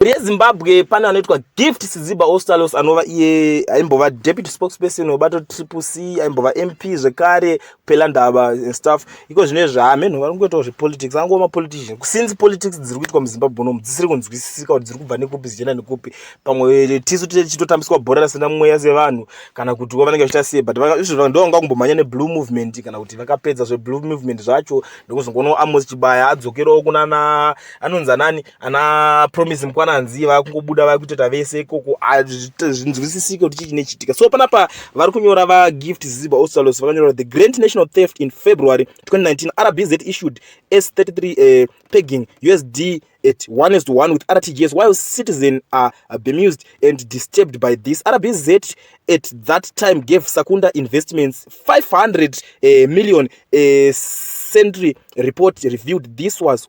rezimbabwe pane anoitwa gift siziba ostalos anova iye aimbova deputy spokesperson webato triple c aimbova mp zvekare kupela ndava and stuff iko zvine zvaamenhu vari kungoitawo zvepolitics angova mapolitician kusinzi politics dziri kuitwa muzimbabwe unomu dzisiri kunzwisisika kuti dziri kubva nekupi zichienda nekupi pamwe tisu tichitotambiswa bhora rasina mweya sevanhu kana kuti wo vanenge vachiita sei but izvo ndo vanga kumbomhanya neblue movement kana kuti vakapedza zveblue movement zvacho ndokuzongoona amos chibaya adzokerawo kunana anonzi anani ana promise mkwananzi vakungobuda vakutoita vese ikoko zvinzwisisike kuti chichine chitika so panapa vari kunyora vagift ziba osalos vakanyora the grand national theft in february 2019 rbz issued s 33 uh, eh, pegging usd at 1 is to 1 with rtgs while citizen are bemused and disturbed by this rbz at that time gave sakunda investments 500 uh, eh, million uh, eh, century report reviewed this was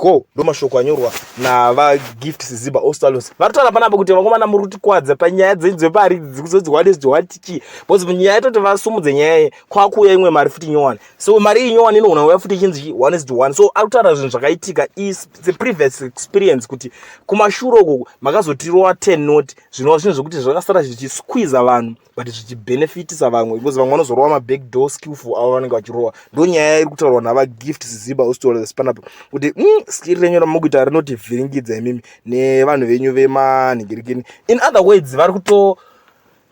ko ndo mashoko anyorwa navagift siziba ostalons vari kutaura panapa kuti vakomana muri kutikwadza panyaya dzenyu dzepari dzikuzodzihwade zidzohwatichii bcause nyaya itoti vasumudze nyaya ye kwakuuya imwe mari futi nyowani so mari iyi nyowani inogona kuuya futi ichinzi chii one zid one so ari kutaura zvinhu zvakaitika is the previous experience kuti kumashure uko makazotirova ten not zvinova zvinhu zvekuti zvakasara zvichisquiza vanhu but zvichibenefitisa vamwe because vamwe vanozorova maback door skillful avo vanenge vachirowa ndo nyaya iri kutaurwa nava gift siziba hostola zesipanapo kuti mm, skiri renyu ramakuita rinoti vhiringidza imimi nevanhu venyu vemanhingirikini in other words vari kuto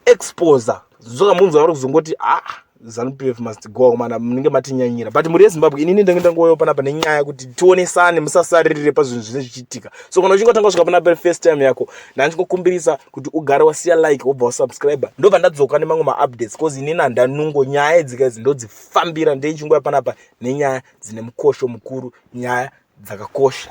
exposer zvoka munzwa vari kuzongoti haa ah, Zanu PF must go akomana munenge matinyanyira but muri yezimbabwe inini ndenge ndangoyo panapa nenyaya kuti tionesane musasaririre pazvinhu zvine zvichiitika so kana uchingatanga kusvika panapa first time yako ndandingokumbirisa kuti ugare wasiya like wobva wasubscribe ndobva ndadzoka nemamwe maupdates bcause inini handanungo nyaya idzika idzi ndodzifambira ndeichingouya panapa nenyaya dzine mukosho mukuru nyaya dzakakosha